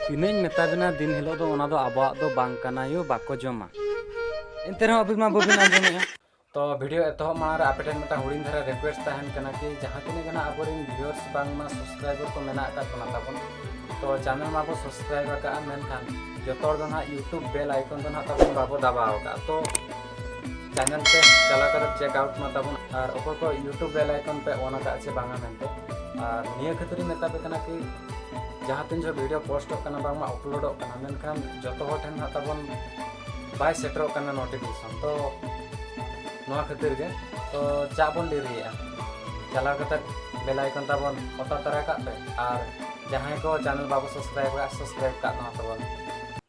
ᱛᱤᱱᱟᱹᱧ ᱢᱮᱛᱟ ᱵᱤᱱᱟ ᱫᱤᱱ ᱦᱤᱞᱳᱜ ᱫᱚ ᱚᱱᱟ ᱫᱚ ᱟᱵᱚᱣᱟᱜ ᱫᱚ ᱵᱟᱝ ᱠᱟᱱᱟ ᱭᱳ ᱵᱟᱠᱚ ᱡᱚᱢᱟ ᱮᱱᱛᱮ ᱨᱮᱦᱚᱸ ᱟᱹᱵᱤᱱ ᱢᱟ ᱵᱟᱹᱵᱤᱱ ᱟᱸᱡᱚᱢᱮᱜᱼᱟ ᱛᱚ ᱵᱷᱤᱰᱤᱭᱳ ᱮᱛᱚᱦᱚᱵ ᱢᱟᱲᱟᱝ ᱨᱮ ᱟᱯᱮ ᱴᱷᱮᱱ ᱢᱤᱫᱴᱟᱝ ᱦᱩᱰᱤᱧ ᱫᱷᱟᱨᱟ ᱨᱤᱠᱣᱮᱥᱴ ᱛᱟᱦᱮᱱ ᱠᱟᱱᱟ ᱠᱤ ᱡᱟᱦᱟᱸ ᱛᱤᱱᱟᱹᱜ ᱜᱮ ᱟᱵᱚ ᱨᱮᱱ ᱵᱷᱤᱭᱩᱣᱟᱨᱥ ᱵᱟᱝᱢᱟ ᱥᱟᱵᱥᱠᱨᱟᱭᱵᱟᱨ ᱠᱚ ᱢᱮᱱᱟᱜ ᱟᱠᱟᱫ ᱵᱚᱱᱟ ᱛᱟᱵᱚᱱ ᱛᱚ ᱪᱮᱱᱮᱞ ᱢᱟᱵᱚ ᱥᱟᱵᱥᱠᱨᱟᱭᱤᱵ ᱟᱠᱟᱫᱼᱟ ᱢᱮᱱᱠᱷᱟᱱ ᱡᱚᱛᱚ ᱦᱚᱲ ᱫᱚ ᱱᱟᱦᱟᱜ ᱤᱭᱩᱴᱩᱵᱽ ᱵᱮᱞ ᱟᱭᱠᱚᱱ ᱫᱚ ᱱᱟᱦᱟᱜ ᱛᱟᱵᱚᱱ ᱵᱟᱵᱚ ᱫᱟᱵᱟᱣ ᱟᱠᱟᱫᱼᱟ ᱛᱚ ᱪᱮᱱᱮᱞ ᱯᱮ ᱪᱟᱞᱟᱣ ᱠᱟᱛᱮ ᱪᱮᱠ ᱟᱣᱩᱴ ᱢᱟ ᱛᱟᱵᱚᱱ ᱟᱨ ᱚᱠᱚᱭ ᱠᱚ ᱤᱭᱩᱴᱩᱵᱽ ᱵᱮᱞ ᱟᱭᱠᱚᱱ ᱯᱮ ᱚᱱ ᱟᱠᱟᱫ ᱪᱮ ᱵᱟᱝᱟ ᱢᱮᱱᱛᱮ ᱟᱨ ᱱᱤᱭᱟᱹ ᱠᱷᱟᱹᱛᱤᱨ ᱤᱧ ᱢᱮᱛᱟ ᱯᱮ ᱠᱟᱱᱟ ᱠᱤ ᱡᱟᱦᱟᱸ ᱛᱤᱱ ᱡᱚᱠᱷᱚᱱ ᱵᱷᱤᱰᱤᱭᱳ ᱯᱳᱥᱴᱚᱜ ᱠᱟᱱᱟ ᱵᱟᱝᱢᱟ ᱟᱯᱞᱳᱰᱚᱜ ᱠᱟᱱᱟ ᱢᱮᱱᱠᱷᱟᱱ ᱡᱚᱛᱚ ᱦᱚᱲ ᱴᱷᱮᱱ ᱦᱟᱸᱜ ᱛᱟᱵᱚᱱ ᱵᱟᱭ ᱥᱮᱴᱮᱨᱚᱜ ᱠᱟᱱᱟ ᱱᱳᱴᱤᱯᱷᱤᱠᱮᱥᱚᱱ ᱛᱚ ᱱᱚᱣᱟ ᱠᱷᱟᱹᱛᱤᱨ ᱜᱮ ᱛᱚ ᱪᱟ ᱵᱚᱱ ᱰᱮᱨᱤᱭᱮᱜᱼᱟ ᱪᱟᱞᱟᱣ ᱠᱟᱛᱮ ᱵᱮᱞ ᱟᱭᱠᱚᱱ ᱛᱟᱵᱚᱱ ᱚᱛᱟ ᱛᱟᱨᱟ ᱠᱟᱜ ᱯᱮ ᱟᱨ ᱡᱟᱦᱟᱸᱭ ᱠᱚ ᱪᱮᱱᱮᱞ ᱵᱟᱵᱚ ᱥᱟᱵᱥᱠᱨᱟᱭᱤᱵ ᱠᱟᱜ ᱥᱟᱵᱥᱠᱨᱟᱭᱤᱵ ᱠᱟᱜ ᱱᱚᱣᱟ ᱛᱟᱵᱚᱱ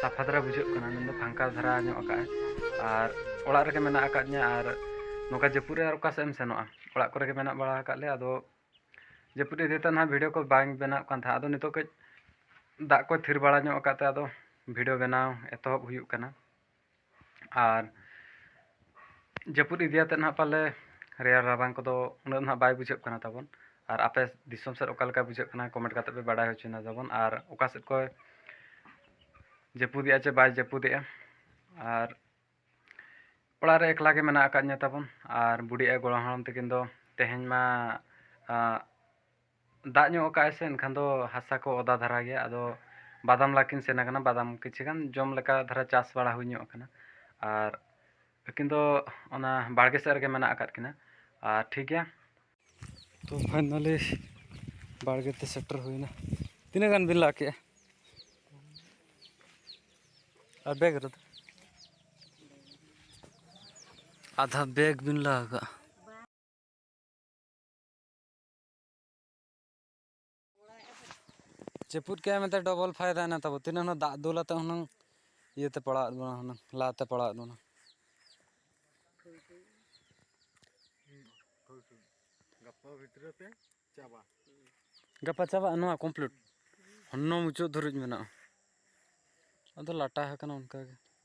ᱥᱟᱯᱷᱟ ᱫᱷᱟᱨᱟ ᱵᱩᱡᱷᱟᱹᱜ ᱠᱟᱱᱟ ᱢᱮᱱᱫᱚ ᱯᱷᱟᱸᱠᱟ ᱫᱷᱟᱨᱟ ᱧᱚᱜ ᱟᱠᱟᱫ ᱟᱭ ᱟᱨ ᱚᱲᱟᱜ ᱨᱮᱜᱮ ᱢᱮᱱᱟᱜ ᱟᱠᱟᱫ ᱞᱤᱧᱟᱹ ᱟᱨ ᱱᱚᱝᱠᱟ ᱡᱟᱹᱯᱩᱫ ᱨᱮ ᱚᱠᱟ ᱥᱮᱫ ᱮᱢ ᱥᱮᱱᱚᱜᱼᱟ ᱚᱲᱟᱜ ᱠᱚᱨᱮ ᱜᱮ ᱢᱮᱱᱟᱜ ᱵᱟᱲᱟ ᱟᱠᱟᱫ ᱞᱮᱭᱟ ᱟᱫᱚ ᱡᱟᱹᱯᱩᱫ ᱤᱫᱤ ᱠᱟᱛᱮᱫ ᱦᱟᱸᱜ ᱵᱷᱤᱰᱭᱳ ᱠᱚ ᱵᱟᱝ ᱵᱮᱱᱟᱜ ᱠᱟᱱ ᱛᱟᱦᱮᱸᱫ ᱟᱫᱚ ᱱᱤᱛᱚᱜ ᱠᱟᱹᱡ ᱫᱟᱜ ᱠᱚᱭ ᱛᱷᱤᱨ ᱵᱟᱲᱟ ᱧᱚᱜ ᱟᱠᱟᱫ ᱛᱮ ᱟᱫᱚ ᱵᱷᱤᱰᱭᱳ ᱵᱮᱱᱟᱣ ᱮᱛᱚᱦᱚᱵ ᱦᱩᱭᱩᱜ ᱠᱟᱱᱟ ᱟᱨ ᱡᱟᱹᱯᱩᱫ ᱤᱫᱤ ᱟᱛᱮᱫ ᱱᱟᱦᱟᱜ ᱯᱟᱞᱮ ᱨᱮᱭᱟᱲ ᱨᱟᱵᱟᱝ ᱠᱚᱫᱚ ᱩᱱᱟᱹᱜ ᱱᱟᱦᱟᱜ ᱵᱟᱭ ᱵᱩᱡᱷᱟᱹᱜ ᱠᱟᱱᱟ ᱛᱟᱵᱚᱱ ᱟᱨ ᱟᱯᱮ ᱫᱤᱥᱚᱢ ᱥᱮᱫ ᱚᱠᱟ ᱞᱮᱠᱟ ᱵᱩᱡᱷᱟᱹᱜ ᱠᱟᱱᱟ ᱠᱚᱢᱮᱱᱴ ᱠᱟᱛᱮᱫ ᱯᱮ ᱵᱟᱰᱟᱭ ᱦᱚᱪᱚᱧᱟ ᱛᱟᱵᱚᱱ ᱟᱨ ᱚᱠᱟ ᱥᱮᱫ ᱠᱷᱚᱱ ᱡᱟᱹᱯᱩᱫᱮᱜᱼᱟ ᱪᱮ ᱵᱟᱭ ᱡᱟᱹᱯᱩᱫᱮᱜᱼᱟ ᱟᱨ ᱚᱲᱟᱜ ᱨᱮ ᱮᱠᱞᱟ ᱜᱮ ᱢᱮᱱᱟᱜ ᱟᱠᱟᱫᱤᱧᱟᱹ ᱛᱟᱵᱚᱱ ᱟᱨ ᱵᱩᱰᱤ ᱟᱭᱳ ᱜᱚᱲᱚᱢ ᱦᱟᱲᱟᱢ ᱛᱟᱹᱠᱤᱱ ᱫᱚ ᱛᱮᱦᱮᱧ ᱢᱟ ᱫᱟᱜ ᱧᱚᱜ ᱟᱠᱟᱫ ᱟᱭ ᱥᱮ ᱮᱱᱠᱷᱟᱱ ᱫᱚ ᱦᱟᱥᱟ ᱠᱚ ᱚᱫᱟ ᱫᱷᱟᱨᱟ ᱜᱮᱭᱟ ᱟᱫᱚ ᱵᱟᱫᱟᱢ ᱞᱟ ᱠᱤᱱ ᱥᱮᱱ ᱟᱠᱟᱱᱟ ᱵᱟᱫᱟᱢ ᱠᱤᱪᱷᱩ ᱜᱟᱱ ᱡᱚᱢ ᱞᱮᱠᱟ ᱫᱷᱟᱨᱟ ᱪᱟᱥ ᱵᱟᱲᱟ ᱦᱩᱭ ᱧᱚᱜ ᱟᱠᱟᱱᱟ ᱟᱨ ᱟᱹᱠᱤᱱ ᱫᱚ ᱚᱱᱟ ᱵᱟᱲᱜᱮ ᱥᱮᱫ ᱨᱮᱜᱮ ᱢᱮᱱᱟᱜ ᱟᱠᱟᱫ ᱠᱤᱱᱟ ᱟᱨ ᱴᱷᱤᱠ ᱜᱮᱭᱟ ᱛᱚ ᱯᱷᱟᱭᱱᱟᱞᱤ ᱵᱟᱲᱜᱮ ᱛᱮ ᱥᱮᱴᱮᱨ ᱦᱩᱭᱱᱟ ᱛᱤᱱᱟᱹᱜ ᱜᱟᱱ ᱵᱤᱱ ᱞᱟ ᱠᱮᱜᱼᱟ ᱟᱨ ᱵᱮᱜᱽ ᱨᱮᱫᱚ ᱟᱫᱷᱟ ᱵᱮᱜᱽ ᱵᱤᱱ ᱞᱟ ᱟᱠᱟᱫᱼᱟ ᱪᱮᱯᱩᱫ ᱠᱮᱫ ᱢᱮᱱᱛᱮ ᱰᱚᱵᱚᱞ ᱯᱷᱟᱭᱫᱟᱭᱮᱱᱟ ᱛᱟᱵᱚ ᱛᱤᱱᱟᱹᱜ ᱦᱩᱱᱟᱹᱝ ᱫᱟᱜ ᱫᱩᱞ ᱟᱛᱮ ᱦᱩᱱᱟᱹᱝ ᱤᱭᱟᱹᱛᱮ ᱯᱟᱲᱟᱣᱟᱫ ᱵᱚᱱᱟ ᱦᱩᱱᱟᱹᱝ ᱞᱟᱛᱮ ᱯᱟᱲᱟᱣᱟᱫ ᱵᱚᱱᱟ ᱜᱟᱯᱟ ᱵᱷᱤᱛᱨᱤ ᱛᱮ ᱪᱟᱵᱟ ᱜᱟᱯᱟ ᱪᱟᱵᱟᱜᱼᱟ ᱱᱚᱣᱟ ᱠᱚᱢᱯᱞᱤᱴ ᱦᱚᱱᱚ ᱢᱩᱪᱟᱹᱫ ᱫᱷᱟᱹᱨᱤᱡ ᱢᱮᱱᱟᱜᱼᱟ ᱟᱫᱚ ᱞᱟᱴᱟ ᱟᱠᱟᱱᱟ ᱚᱱᱠᱟᱜᱮ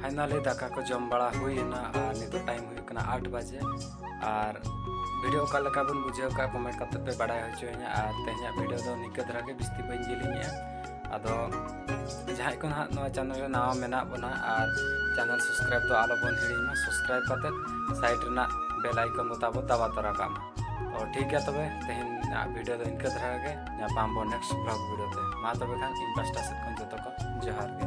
ᱯᱷᱟᱭᱱᱟᱞᱤ ᱫᱟᱠᱟ ᱠᱚ ᱡᱚᱢ ᱵᱟᱲᱟ ᱦᱩᱭᱮᱱᱟ ᱟᱨ ᱱᱤᱛᱚᱜ ᱴᱟᱭᱤᱢ ᱦᱩᱭᱩᱜ ᱠᱟᱱᱟ ᱟᱴ ᱵᱟᱡᱮ ᱟᱨ ᱵᱷᱤᱰᱤᱭᱳ ᱚᱠᱟ ᱞᱮᱠᱟ ᱵᱚᱱ ᱵᱩᱡᱷᱟᱹᱣ ᱠᱟᱜᱼᱟ ᱠᱚᱢᱮᱱᱴ ᱠᱟᱛᱮ ᱯᱮ ᱵᱟᱰᱟᱭ ᱦᱚᱪᱚᱭᱤᱧᱟ ᱟᱨ ᱛᱮᱦᱮᱧᱟᱜ ᱵᱷᱤᱰᱤᱭᱳ ᱫᱚ ᱱᱤᱝᱠᱟᱹ ᱫᱷᱟᱨᱟ ᱜᱮ ᱵᱤᱥᱛᱤ ᱵᱟᱹᱧ ᱡᱮᱞᱮᱧᱮᱜᱼᱟ ᱟᱫᱚ ᱡᱟᱦᱟᱸᱭ ᱠᱚ ᱱᱟᱦᱟᱜ ᱱᱚᱣᱟ ᱪᱮᱱᱮᱞ ᱨᱮ ᱱᱟᱣᱟ ᱢᱮᱱᱟᱜ ᱵᱚᱱᱟ ᱟᱨ ᱪᱮᱱᱮᱞ ᱥᱟᱵᱥᱠᱨᱟᱭᱤᱵ ᱫᱚ ᱟᱞᱚ ᱵᱚᱱ ᱦᱤᱲᱤᱧ ᱢᱟ ᱥᱟᱵᱥᱠᱨᱟᱭᱤᱵ ᱠᱟᱛᱮ ᱥᱟᱭᱤᱰ ᱨᱮᱱᱟᱜ ᱵᱮᱞ ᱟᱭᱠᱚᱱ ᱫᱚ ᱛᱟᱵᱚ ᱫᱟᱵᱟ ᱛᱚᱨᱟ ᱠᱟᱜ ᱢᱟ ᱛᱚ ᱴᱷᱤᱠ ᱜᱮᱭᱟ ᱛᱚᱵᱮ ᱛᱮᱦᱮᱧᱟᱜ ᱵᱷᱤᱰᱤᱭᱳ ᱫᱚ ᱤᱱᱠᱟᱹ ᱫᱷᱟᱨᱟ ᱜᱮ ᱧᱟᱯᱟᱢ ᱵᱚᱱ ᱱᱮᱠᱥᱴ ᱵᱞᱚᱜ ᱵᱷᱤᱰᱤᱭᱳ ᱛᱮ ᱢᱟ ᱛᱚᱵᱮ ᱠᱷᱟᱱ ᱤᱧ ᱯᱟᱥᱴᱟ ᱥᱮᱫ ᱠᱷᱚᱱ ᱡᱚᱛᱚ ᱠᱚ ᱡᱚᱦᱟᱨ ᱜᱮ